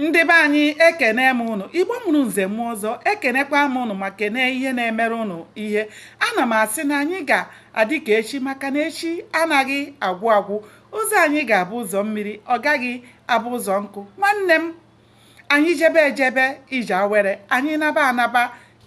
Ndị be anyị ekene m ụnụ, Igbo mụrụ nze mụọ ọzọ, ekenekwa m ụnụ ma kenee ihe na-emere ụnụ ihe. Ana m asị na anyị ga-adị ka echi maka na echi anaghị agwụ agwụ. Ụzọ anyị ga-abụ ụzọ mmiri, ọ gaghị abụ ụzọ nkụ. Nwanne m, anyị jebe ejebe ije awere, anyị naba anaba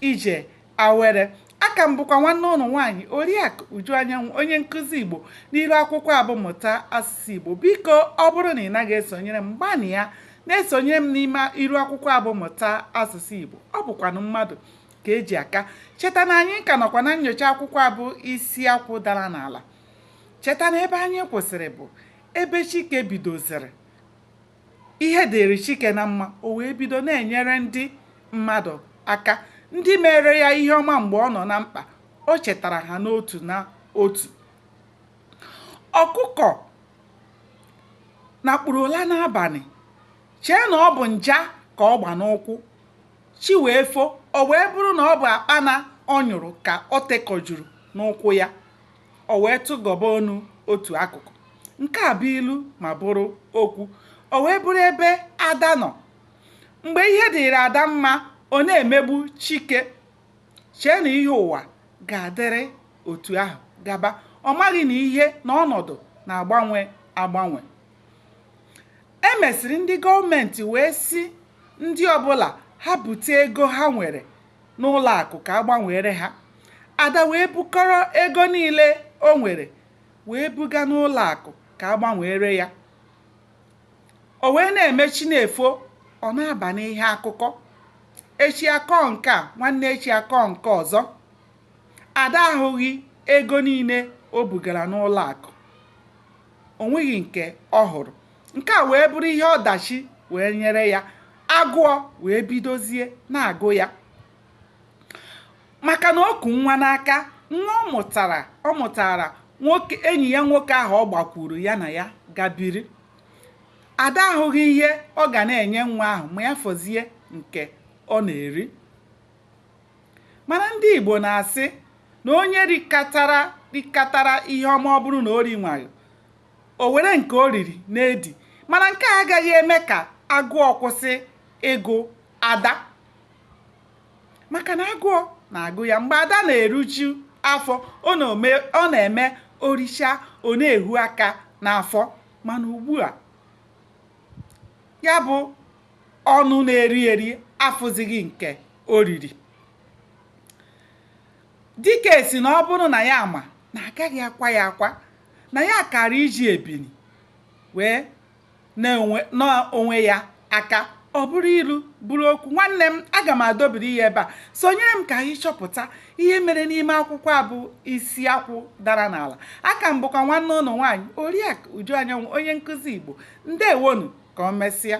ije Awere a ka m bụkwa nwanne ụnụ nwaanyị Oriakụ Uju Anyanwụ onye nkụzi Igbo n'iru akwụkwọ a bụ mụta asụsụ Igbo biko ọ bụrụ na ị naghị esonyere m gbanịa na-esonyere m n'ime iru akwụkwọ a bụ mụta asụsụ Igbo ọ bụkwanụ mmadụ ka e ji aka cheta na anyị ka nọkwa na nyocha akwụkwọ a bụ isi akwụ dara n'ala cheta na ebe anyị kwụsịrị bụ ebe Chike bidoziri ihe dịrị Chike na mma o wee bido na-enyere ndị mmadụ aka ndị meere ya ihe ọma mgbe ọ nọ na mkpa o chetara ha n'otu na otu ọkụkọ nakpuru ụla n'abalị chee na ọ bụ nja ka ọ gba n'ụkwụ chi wee fo o wee bụrụ na ọ bụ akpana ọ nyụrụ ka o tekọjuru n'ụkwụ ya o wee tụgọba ọnụ otu akụkụ nke a bụ ilu ma bụrụ okwu o wee bụrụ ebe ada nọ mgbe ihe dịrị ada mma ọ na-emegbu chike chee na ihe ụwa ga-adịrị otu ahụ gaba ọ maghị na ihe na ọnọdụ na-agbanwe agbanwe e mesịrị ndị gọọmenti wee sị ndị ọbụla ha bute ego ha nwere n'ụlọ akụ ka a gbanweere ha ada wee bukọrọ ego niile o nwere wee buga n'ụlọ akụ ka a gbanweere ya o wee na-eme chi na-efo ọ na-aba n'ihe akụkọ echi a kọọ nke a nwanne echi a kọọ nke ọzọ ada ahụghị ego niile o bugara n'ụlọ akụ o nweghị nke ọ hụrụ nke a wee bụrụ ihe ọdachi wee nyere ya agụọ wee bidozie na-agụ ya maka na o ku nwa n'aka nwa ọ mụtara nwoke enyi ya nwoke ahụ ọ gbakwuru ya na ya ga biri ada ahụghị ihe ọ ga na-enye nwa ahụ ma ya fọzie nke ọ na-eri mana ndị Igbo na-asị na onye rikatara ihe ọma ọ bụrụ na o rinwaghị o were nke o riri na-edi mana nke a agaghị eme ka agụọ kwụsị ịgụ ada maka na agụọ na-agụ ya mgbe ada na-eruju afọ ọ na-eme o richaa ọ na-ehu aka n'afọ mana ugbu a ya bụ ọnụ na-eri eri afụzighị nke o riri Dike sị na ọ bụrụ na ya ma na a gaghị akwa ya akwa, na ya kaara iji ebini wee naa onwe ya aka ọ bụrụ ilu bụrụ okwu. Nwanne m, aga m adobiri ya ebe a. Sonyere m ka anyị chọpụta ihe mere n'ime akwụkwọ a bụ Isi Akwụ Dara n'Ala. Aka m bụkwa nwanne ụnụ nwaanyị Oriakụ Uju Anyanwụ, onye nkụzi Igbo. Ndewonu, ka o mesịa.